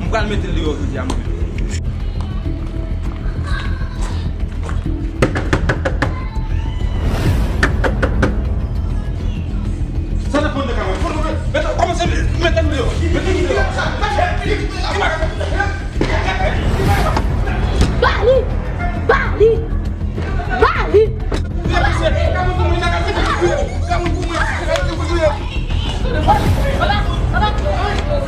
M pral mete l deyò jodi a mwen menm.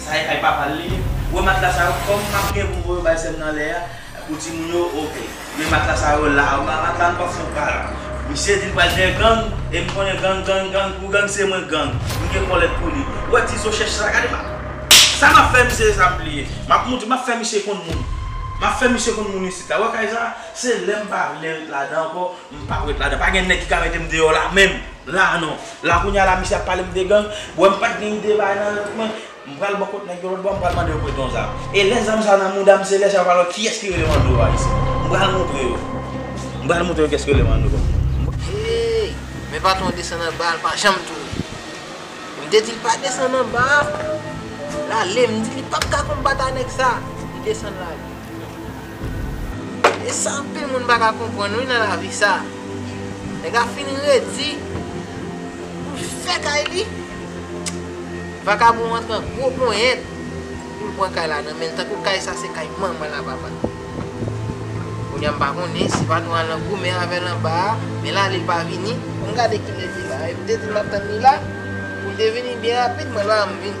Sa e kay papal li ye. Wè matla sa yo kòm map gen poum voyo bay sèm nan lè a pou timoun yo ok men matla sa yo la ma matla nou pap fon prank misye di li pral dèyè gang e m konnen gang gang gang pou gang se mwen gang m gen kòlèt pou li wè ti zo chèch sa gade ma sa map fè misye se sa m bliye map moutre map fè misye konn moun map fè misye konn moun isit la wè kay sa se lèm pa vle ret ladan ankò M pap ret ladan. Pa gen nèg ki ka mete m deyò la menm. La non. La kounye a la misye ap pale m de gang. Ou wè m pat gen ide bay nan yo tout men. M pral bò kot nèg yo lòt bò a m pral mande yo prete yon zam. E lè zam sa nan mouda m se lè sa yo pral wè kiyès ki rele Manno a isit. M pral montre yo. M pral montre yo kiyès ki rele Manno. Hey! Men patwon desann anba a l pa janm tou ri. M te di l pa desann anba a. L ale. M di li pap ka konbat a nèg sa. Li desann l ale. E sa anpil moun pa ka konprann wi nan lavi sa. Nèg la fin redi pou l fè kay li. Vakabon an pran gwo ponyèt pou l pran kay la nan men l tankou kay sa se kay manman l a papa l. Kounye a m pa konnen si patwon an lan goumen avè l anba a men l ale l pa vini. An n gade ki l rete la. E m te di l m ap tann li la pou l te vini byen rapid mwen l pa vle m vini.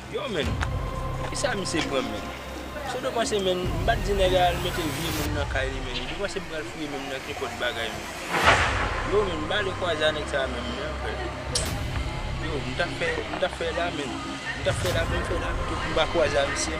Yow menn kisa misye pran menn Saw te panse menn m pat di nèg la al mete vye moun nan kay li menn u te panse m pral fouye menm nan kenpòt bagay menn Yow menn bale kwaze a nèg sa menm menn anfè Yow m tap fè m tap fè la menn m tap fè la pou m fè la pito pou m pa kwaze a misye.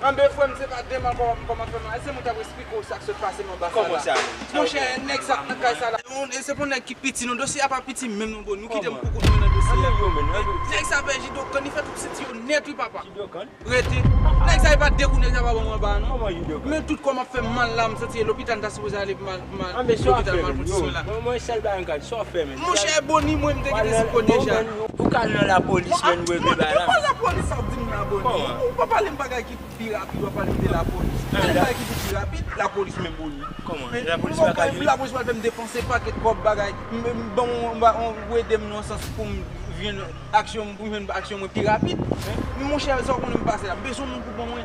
Anbe frèm se pa demon kòman m kòman frèm ese mwen tap esplike w sak sot pase nan anbasad la monchè nèg sak nan kay sa la e se pou nèg ki piti non dosye a pa piti menm non bro nou kitem pou kout mwen nan dosye a nèg sa pè jidokan li fè tout senti yo nèt wi papa rete nèg sa e pa de kou nèg sa pa banm anba non men tout kòm ap fèm mal la m santi e lopital m ta sipoze ale pman Mal lopital mal kondisyon la. Monchè boni mwen mte gen espo deja. Ou ka al nan la polis men nou regle bagay la. Bon de pwa la polis ap dim la boni. Ou pa pale m bagay ki pou pi rapid wap pale m de la polis. Pale m bagay ki pou pi rapid la polis men boni. Kòman la polis pa ka jwenn. La polis pral fèm depanse paket kòb bagay. Ban mwen ou edem nan sans poum jwenn aksyon poum jwenn aksyon mwen pi rapid. Monchè sa w konnen m pase la. M bezwen moun pou ban mwen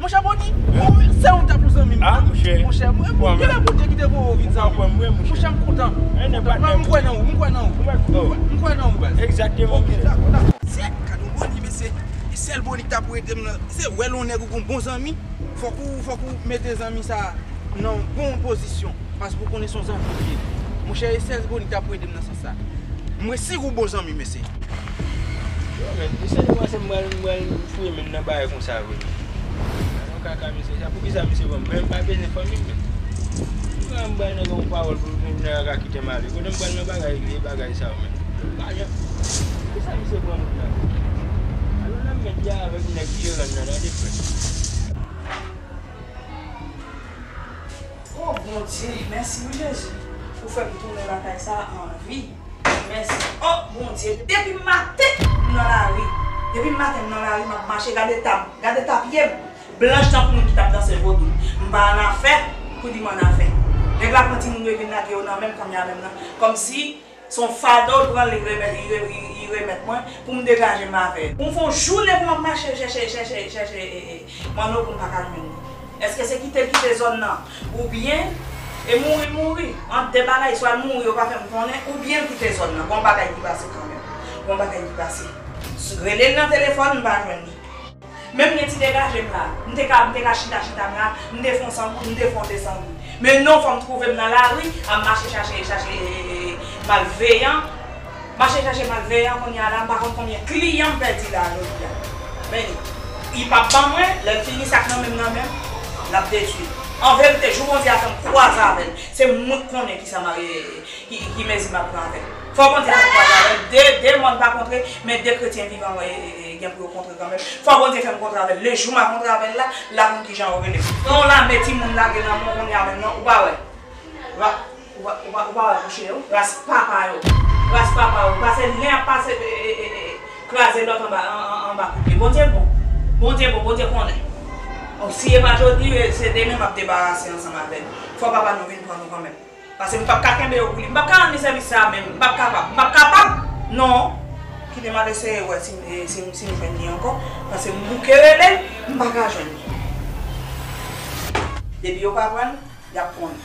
Monchè Boni, ou menm se ou ta pou zanmi m nan monchè. Monchè m kontan. M kwè nan ou. M kwè nan ou. M kwè nan ou baz. Ok dakò dakò. Sè kado Boni men se sèl Boni ki ta pou ede m nan. Se wè lè yon nèg ou gon bon zanmi, fòk ou fòk ou mete zanmi sa nan yon bon pozisyon. Paske ou konnen son zanmi li ye. Monchè e sèl Boni ki ta pou ede m nan sans. Mwen si ou bon zanmi mesye. Yo menn misye te panse m pral m pral fouye menm nan bagay konsa vre menn. Gade yon kaka misye sa poukisa misye banm menm pa bezyen fanmim menn. Pou kisa m pral nan gen yon pawòl pou pou nèg la ka kitem ale kote m pral nan bagay vye bagay sa yo menm. Lajan poukisa misye pran moun nan menm. Alon nan mèd ya avèk nèg jeran nan tande frè. Oh bondye mèsi wi jezi ou fèm tounen lakay sa anvi mèsi oh bondye. Depim maten m nan lari. Depim maten m nan lari map mache gad etam gad eta pyem blanch tankou moun ki tap danse vodou m pa anafè pou dim anafè nèg la pran timoun yo e vin lage yo nan menm kòm ya menm nan kòmsi Son fado l pran li remèt mwen pou m degaje m avè l. M fon jounen pou m ap mache l chèche chèche chèche Manno pou m pa ka jwenn li. Eske se kite l kite zòn nan oubyen e mouri l mouri. Ant 2 bagay swa l mouri yo pa fè m konnen oubyen l kite zòn nan. Gon bagay ki pase kanmenm. Gon bagay ki pase. Rele l nan telefòn m pa jwenn li. Menm gen ti degajem la. M te ka m te ka chita chita m la, m te fon san goud, m te fon 2 san goud. Men non fòm twouve m nan lari a m mache chache chache malveyan, mache chache malveyan kounye a la m pa konn konbyen kliyan m pèdi la jodi a. Men li. Li pap ban mwen, lè l fini sa k nan men m nan men m, l ap detwi. An verite jou Bondye a fè m kwaze avè l, se mwen k konnen kisa m ap. Ki mezi m ap pran avè l? Fò Bondye fè m kwaze avè l. De, de mòn pa kontre, men de kretyen vivan wè e gen pou yo kontre kanmenm. Fò Bondye fè m kontre avè l. Le jou m a kontre avè l la, l ap konn ki jan yo rele m. Pran yon lame timoun lage nan men w kounye a menm nan, ou pa wè? Ra, ou pa, ou pa, ou pa wè bouche yo? Ras papa yo! Ras papa yo! Pase l yen ap pase e, e, e, e, kraze lòt anba, an, an, anba kout pye. Bondye bon! Bondye bon! Bondye konnen! O, si e pa jodi, e, se demen m ap debarase ansanm avè nou. Fò Papa nou vin pran nou kanmenm. Pase m pap ka kenbe yo pou li. M pap ka rann li sèvis sa a menm. M pap kapab. M pap kapab non! Kite m al eseye wè si m si m jwenn li ankò. Pase m bouke rele l, m pa ka jwenn li. Depi yo pa pran l, y ap pran li.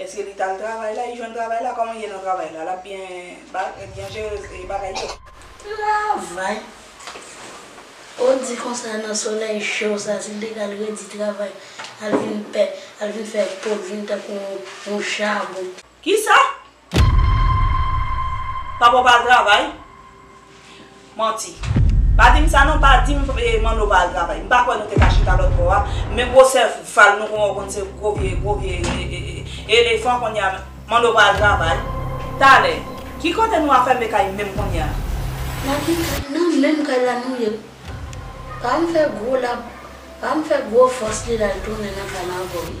Eske li tal travay la, li jwenn travay la, koman li ye nan travay la, lap byen byen jere bagay yo. Travay? Ou di konsa nan solèy cho sa si l te ka l redi travay al vin pè, al vin fè po l vin tankou yon chabon. Kisa? Papa w pa al travay? Manti. Pa di m sa non, pa di m Manno pa al travay. M pa kwè nou te ka chita lòtbò a, men gwo sèval nou konn wè w konn se gwo vye, gwo vye elefan konnye a. Manno pa al travay? Talè. Ki kote nou afème kay menm konnye a? Nan ki kay? Nan menm kay la nou ye. Pa al fè gwo lab, pa al fè gwo fòs li la l tounen nan kay la ankò wi.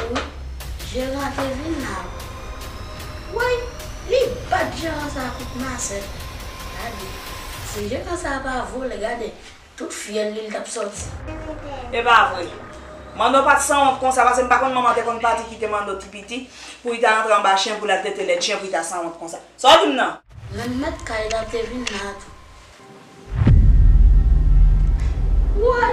Ou, Jeran te vin la wi. Woy! Li bat Jeran sa a kout masèt. Gade! Si Jeran sa a pa vole, gade! Tout fyèl li li t ap sòti. E pa vre? Manno pa t sanwont konsa, pase m pa konn manman te konn pati kite Manno ti piti pou li ta antre anba chen pou l al tete lèt chen pou li ta sanwont konsa. Sa w di m nan? Menm mèt kay la te vin la tou. Woy!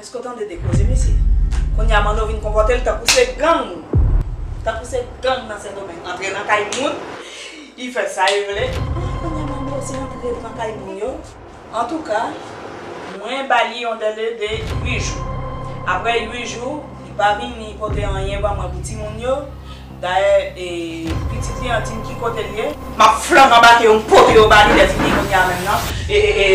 Eske w tande de koze mesye? Kounye a Manno vin konpòte l tankou se gang! Tankou se gang nan Sendomeng antre nan kay moun, y fè sa y vle. Ah kounye a Manno se antre l nan kay moun yo. Antouka, mwen ba li yon dele de 8 jou. Aprè 8 jou, li pa vini pote anyen ban mwen pou timoun yo, Dayè pitit li an dim ki kotel ye. Map flank anbake yo mpote yo bali lè fini kounya menm nan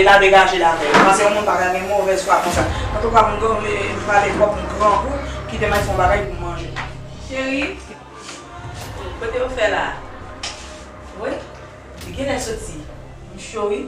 la degajel avèl ou panse yon moun paka gen movèz fwa konsa antouka moun do m pale twòp m grangou kitem al fon bagay poum manje cheri kotew fè la woy li genlè soti m cho wi.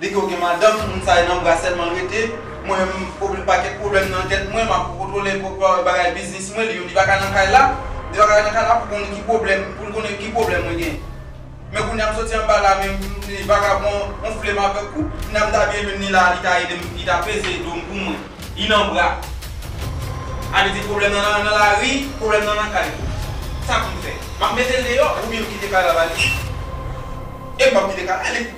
Li ko gen madanm moun sa e nan bra selman rete mwen m problem paket problem nan tet mwen map kontrole bagay biznis mwen li yo li paka nan kay la li paka nan kay la pou konn ki problem poul konnen ki problem mwen gen men kounya m soti anba la men li vagabon onflem avek ou kounya m ta byen jwenn li la li ta edem li ta peze dom pou mwen li nan bra a li di problem nan nan lari problem nan nan kay sa poum fè map metel deyò oubyen m kite kay la ba li e m pap kite kay la.